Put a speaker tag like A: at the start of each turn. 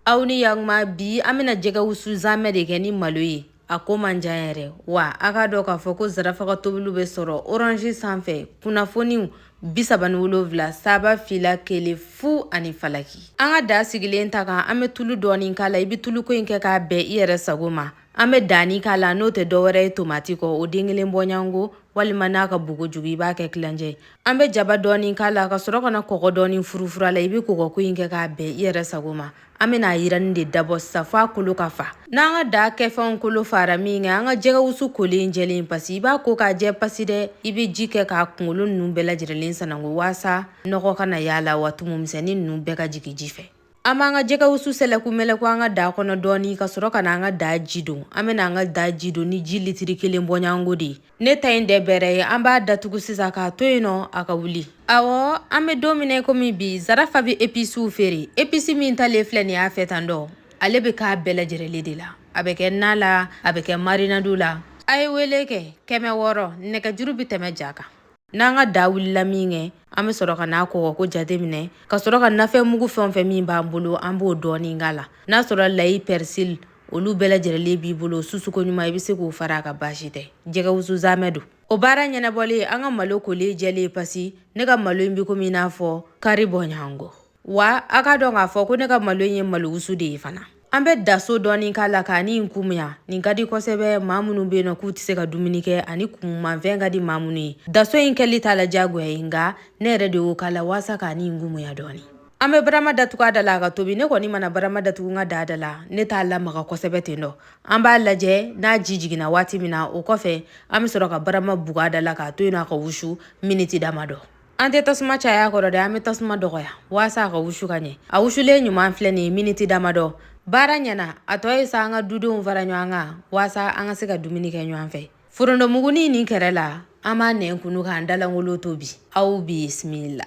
A: aw ni yakuma bi an bɛna jɛgɛ wusu zamɛ de kɛ ni malo ye a ko man jan yɛrɛ wa a k'a dɔn k'a fɔ ko zarafa ka tobiliw bɛ sɔrɔ orange sanfɛ kunnafoniw bisaba ni wolonwula saba fila kelen fu ani falaki an ka da sigilen ta kan an bɛ tulu dɔɔni k'a la i bɛ tuluko in kɛ k'a bɛn i yɛrɛ sago ma An bɛ danni k'a la n'o tɛ dɔwɛrɛ ye tomati kɔ o den kelen bɔɲɔgɔnko walima n'a ka bon kojugu i b'a kɛ tilancɛ an bɛ jaba dɔɔni k'a la ka sɔrɔ ka na kɔgɔ dɔɔni furufuru a la i bɛ kɔgɔko in kɛ k'a bɛn i yɛrɛ sago ma an bɛna a yiranni de dabɔ sisan f'a kolo ka fa n'an ka daa kɛfɛnw kolo faara min kɛ an ka jɛgɛwusu kolen jɛlen pasi i b'a ko k'a jɛ pasi dɛ i bɛ ji kɛ k'a kunkolo ninnu bɛɛ lajɛrɛlen sananko waasa nɔgɔ kana y'a la wa tumu misɛnnin ninnu bɛɛ ka jigin ji fɛ An b'an ka jɛgɛ wusu sɛlɛku mɛlɛku an ka da kɔnɔ dɔɔni ka sɔrɔ ka na an ka da ji don an bɛna an ka da ji don ni ji litiri kelen bɔɲɔgɔnko de ye ne ta in tɛ bɛrɛ ye an b'a datugu sisan k'a to yen nɔ a ka wuli awɔ an bɛ don min komi bi zarafa bɛ episiw feere episi min talen filɛ nin y'a fɛ tan dɔ ale bɛ k'a bɛɛ lajɛrɛlen de la a bɛ kɛ na la a bɛ kɛ marinadu la a ye wele kɛ kɛmɛ wɔɔrɔ nɛgɛjuru bɛ tɛmɛ ja kan n'an ka da wulila min kɛ an bɛ sɔrɔ ka n'a kɔgɔko jate minɛ ka sɔrɔ ka nafɛn mugu fɛn o fɛn min b'an bolo an b'o dɔɔnin k'a la n'a sɔrɔ layi pɛrisili olu bɛɛ lajɛrɛlen b'i bolo susu koɲuman i bɛ se k'o fara a kan baasi tɛ jɛgɛ wusu zamɛ don o baara ɲɛnabɔlen an ka malo kolen jɛlen pasi ne ka malo in bɛ komi i n'a fɔ kari bɔɲɔgɔnko wa a k'a dɔn k'a fɔ ko ne ka malo ye malowusu de ye fana an bɛ daso dɔɔni k'a la k'a ni kumuya nin ka di kosɛbɛ maa minnu bɛ yen nɔ k'u tɛ se ka dumuni kɛ ani kumumanfɛn ka di maa minnu ye daso in kɛli t'a la diyagoya ye nka ne yɛrɛ de y'o k'a la walasa k'a ni kumuya dɔɔni an bɛ barama datugu a da la a ka tobi ne kɔni mana barama datugu n ka daa da la ne t'a lamaga kosɛbɛ ten dɔ an b'a lajɛ n'a ji jiginna waati min na o kɔfɛ an bɛ sɔrɔ ka barama bugu a da la k'a to yen a ka wusu miniti dama dɔ an tɛ tasuma caya kɔrɔ dɛ an bɛ tasuma dɔgɔya waasa a ka wusu ka ɲɛ a wusulen ɲuman filɛ nin ye miniti damadɔ baara ɲɛna a tɔ ye sa an ka dudenw fara ɲɔgɔn kan waasa an ka se ka dumuni kɛ ɲɔgɔn fɛ forontomuguni nin kɛrɛ la an b'an nɛn kunu k'an da lankolon to bi aw bisimila